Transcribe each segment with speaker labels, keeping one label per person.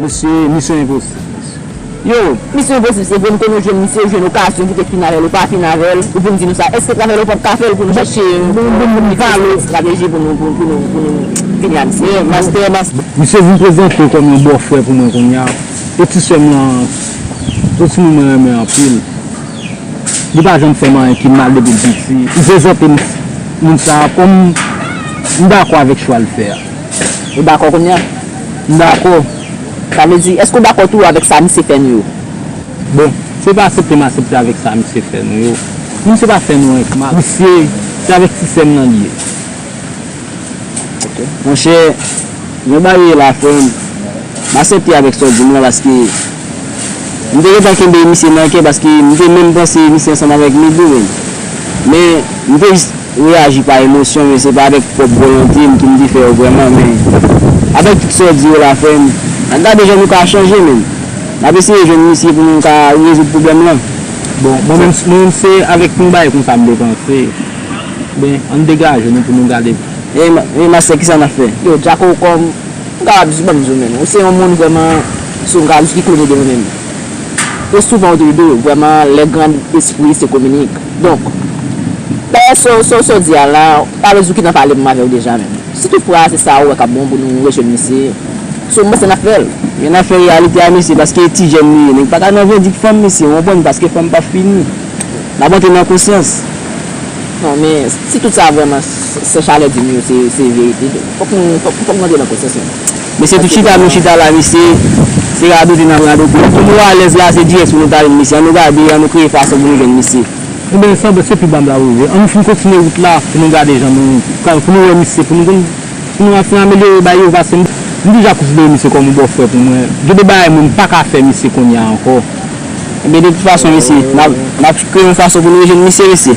Speaker 1: Mesye misyon enposib mesye. Yow
Speaker 2: misyon enposib se vre m konnen ou t jwenn misye ou jwenn okazyon pou te fin avèl ou pa fin avèl ou vin di nou sa èske travèl ou pap ka fèl pou nou chèche yon estrateji pou nou pou nou pou nou fini a misye. Mastè
Speaker 1: mastè. Misye vin prezante kòm yon bòfrè pou mwen kounya e ti sèm lan se timoun mwen renmen anpil li pa janm fèm anyen ki mal depil piti m prezante moun sa kòm m dakò avèk chwa l fè a. Ou dakò
Speaker 2: kounya? M dakò.
Speaker 1: Sa vle
Speaker 2: di, èske ou dakò tou avèk sa misye fè nou yo? Bon,
Speaker 1: se pa asepte m asepte avèk sa misye fè nou yo. Moun se pa fè nou anyen k mal. Misye, se avèk ti sè m nan li ye. Ok.
Speaker 2: Monchè, jan bagay ye la frè m, m asepte avèk sa w di m lan paske m te gentan kenbe misye nan kè paske m te menm panse misye ansanm avèk Midou menm. Men, m te jis. M reyaji pa emosyon men se pa avèk pwòp volonte m ki m te fè yo vrèman men avèk tout sa w di yo la frè m na gade jan nou ka chanje menm n ap eseye jwenn misye pou nou ka rezoud pwoblèm lan. Bon mwen menm
Speaker 1: mwen menm se avèk yon bagay konsa m te panse men an n degaje nou pou nou gade. Ey mastè
Speaker 2: kisa nap fè. Yo Jacko kòm m kapab jis banm di w menm ou se yon moun vrèman sou m kapab jis ki klone de mwen menm. E souvan ou te rive vreman lè grand espri se kominik donk dayè so so so di a la pa vle di ou ki nan pale m avèw deja menm si tou fra se sa ou wè kap bon pou nou rejwenn misye si ou panse nap fèl. Gen nan fè reyalite a mesye paske e ti jèn li ye nèg paka nan vendik fanm mesye ou konprann paske fanm pa fini nap antre nan konsyans. Non men si tout sa vreman sè chalè dim yo se verite fok nou antre nan konsyans nou. Mesye tout chita nou chita la mesye se radote nap radote pou nou alèz la se dirèk pou nou ta jwenn mesye an nou gade an nou kreye fason pou nou jwenn mesye. Ebyen sa se
Speaker 1: pi ba m la wi an nou fin kontinye wout la pou nou gade jan nou ka pou nou wè misye pou nou konn pou nou fin amelyore bagay yo paske m deja konsidere misye kòm yon bòfrè pou mwen gen de bagay mwen m paka fè misye kounya ankò. Ebyen de
Speaker 2: tout fason mesye nap kreye yon fason pou nou rejwenn misye mesye.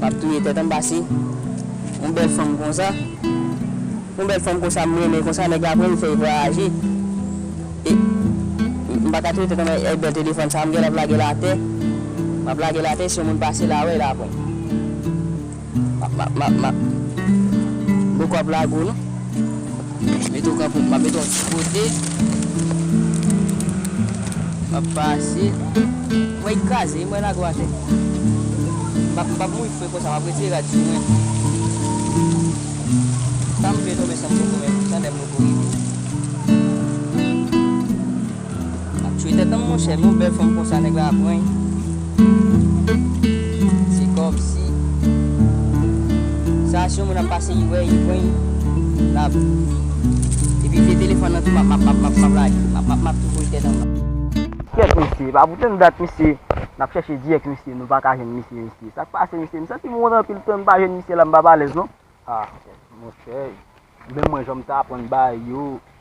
Speaker 2: Map touye tèt an pase yon bèl fanm konsa yon bèl fanm konsa m renmen konsa nèg la pranl fèl vwayaje e m paka touye tèt an e bèl telefòn sa m gentan ap lagel atè map lagel atè si yon moun pase la wèl apre. Map map map map Boko ap lague w non Mete w kanpe map mete w yon ti kote Map pase Mwen yi kraze wi mwen lague w atè Map mpap mouri fre konsa map retire rad sou mwen Sam vle tonbe sam poko menm tandem loko rive. Ap tchwe tèt anm monchè men yon bèl fanm konsa nèg la ap reny se kòmsi sa si yon moun ap pase li wè li reny lap epi vye telefòn nan tou map map map map lage map map map tou voye tèt anba. Kyèt mesye epa pou tann dat mesye nap chèche di ak misye nou paka jwenn misye mesye sak pase mesye m santim wont anpil tann m pa jwenn misye la m pap alèz non. Ah
Speaker 1: monchè menm mwen janm ta aprann ba yo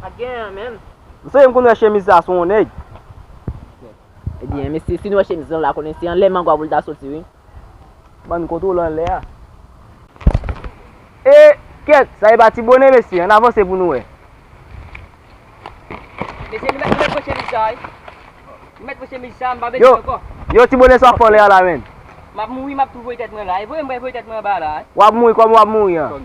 Speaker 2: Pat gen an menm. Msezi mkonn wè
Speaker 1: chemiz sa sou yon nèg.
Speaker 2: Ebyen mesye si nou wè chemiz lan la konnen se anlè mangwa poul ta soti wi. Bann
Speaker 1: kontwol anlè a. E kèt sa epa ti bone mesye an avanse pou nou wè.
Speaker 3: Mesye nou mèt pran chemiz sa wi. Nou mèt pran chemiz sa mpa bezwen ankò. Yo ti bone
Speaker 1: sa fòlè a la menn. Map mouri map tou
Speaker 3: voye tèt mwen la. E voyem mwen voye tèt mwen anba la. Wap mouri kòman wap mouri
Speaker 1: an.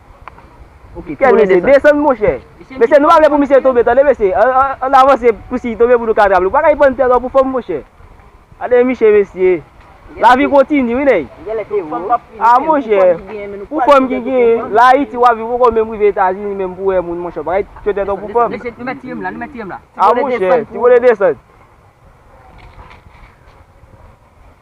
Speaker 2: Kèl mesye desann monchè.
Speaker 4: Mesye nou pa vle pou misye tonbe tande mesye ann avanse pou sil tonbe pou nou ka atrap li ou pa ka ipan tè trò pou fòm monchè. Gade miche mesye. Lavi kontini wi nèg. A monchè pou fòm ki genyen la ayiti wap viv ou poko menm rive etazini menm pou wè moun monchè ou pa ka ipan tè trò pou fòm.
Speaker 3: A monchè ti
Speaker 4: bone desann.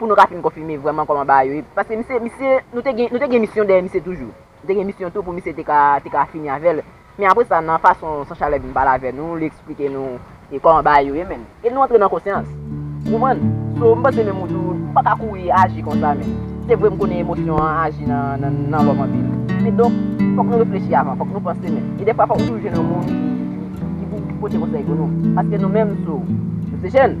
Speaker 2: Pou nou ka fin konfime vrèman kòman bagay yo ye. Paske misye, misye, nou te gen, nou te gen misyon dèyè misye toujou. Nou te gen misyon tou pou misye te ka, te ka fini avè l. Men apre sa, nan fason San Chalè vin pale avè nou, li eksplike nou e kòman bagay yo ye menm. E nou antre nan konsyans. Ou konprann? So, m panse menm ou tou, ou pa ka kouri aji konsa menm. Se vre m konnen emosyon an aji nan, nan, nan lòm anpil. Men donk, fòk nou reflechi avan, fòk nou panse menm. E dèfwa fòk nou toujou jwenn yon moun ki, ki, ki pou, ki pou pote konsèy pou nou. Paske nou menm, so, nou se jèn.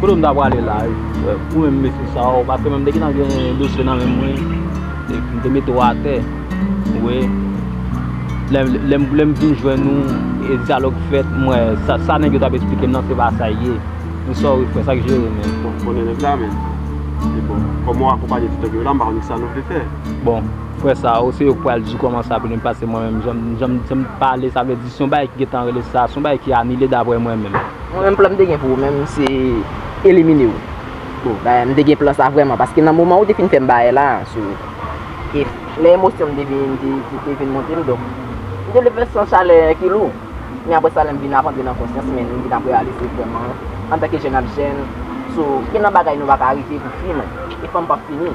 Speaker 4: Kote m ta prale la pou menm mesye sa yo paske menm m te gentan gen dosye nan menm mwen epi m te mete yo atè ou wè lè m vin jwenn ou e dyalòg fèt m wè sa nèg yo t ap esplike m nan se pa sa l ye m sòri frè sa k jere men bon konnen nèg la men
Speaker 5: e bon kòm ou akonpaye ti nèg yo la m pa konnen ki sa nou vle fè bon frè
Speaker 4: sa yo se yo k pral di kòman sa pou li m pase mwen menm jan m jan m pale sa vle di s yon bagay ki gentan rele sa s yon bagay ki anile daprè mwen menm. Mwen menm plan m te gen
Speaker 2: pou ou menm se elimine ou. Bon bagay m te gen plan sa vrèman paske nan moman ou te fin fè m bagay la sou e lè emosyon m te vin te vin monte m donk m te vle fè san chalè ki lou men aprè sa lè m vin ap antre nan konsyans mwen m vin ap reyalize vrèman antanke jèn ap jèn sou gen nan bagay nou pa ka rive pou fini e fanm p ap fini.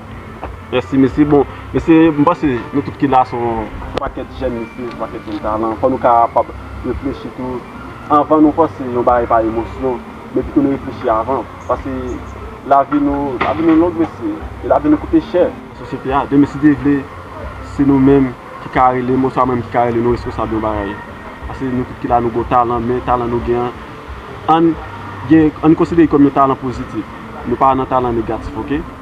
Speaker 4: Mèsi
Speaker 5: mesye, bon mesye m panse nou tout ki la se yon pakèt jèn mesye, yon pakèt jèn talan, fò nou kapab reflechi tou anvan nou panse yon bagay pa emosyon men pito nou reflechi avan pase lavi nou, lavi nou long mesye e lavi nou koute chè. Sosyete a demen si Dye vle se nou menm ki ka rele m oswa mwen menm ki ka rele nou responsab yon bagay pase nou tout ki la nou gon talan men talan nou gen an ann gen ann konsidere l kòm yon talan pozitif nou pa nan talan negatif ok.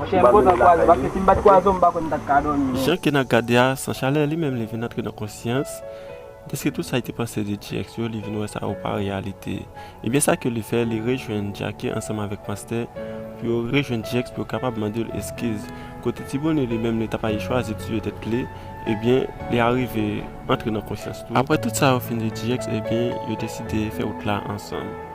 Speaker 5: Monchè m kontan kwaze paske si m pat
Speaker 6: kwaze w m pa kwè m tap ka dòmi non. Jan Kena gade a san chalè li menm li vin antre nan konsyans dèske tout sa li te panse de Djex yo li vin wè sa yo pa reyalite ebyen sa ke li fè li rejwenn Jacky ansanm avèk Pastè pou yo rejwenn Djex pou yo kapab mande l eskiz kote ti bone li menm li ta fayi chwazi tiye tèt li ebyen li arive antre nan konsyans tou aprè tout sa yo fin di Djex ebyen yo deside fè wout la ansanm.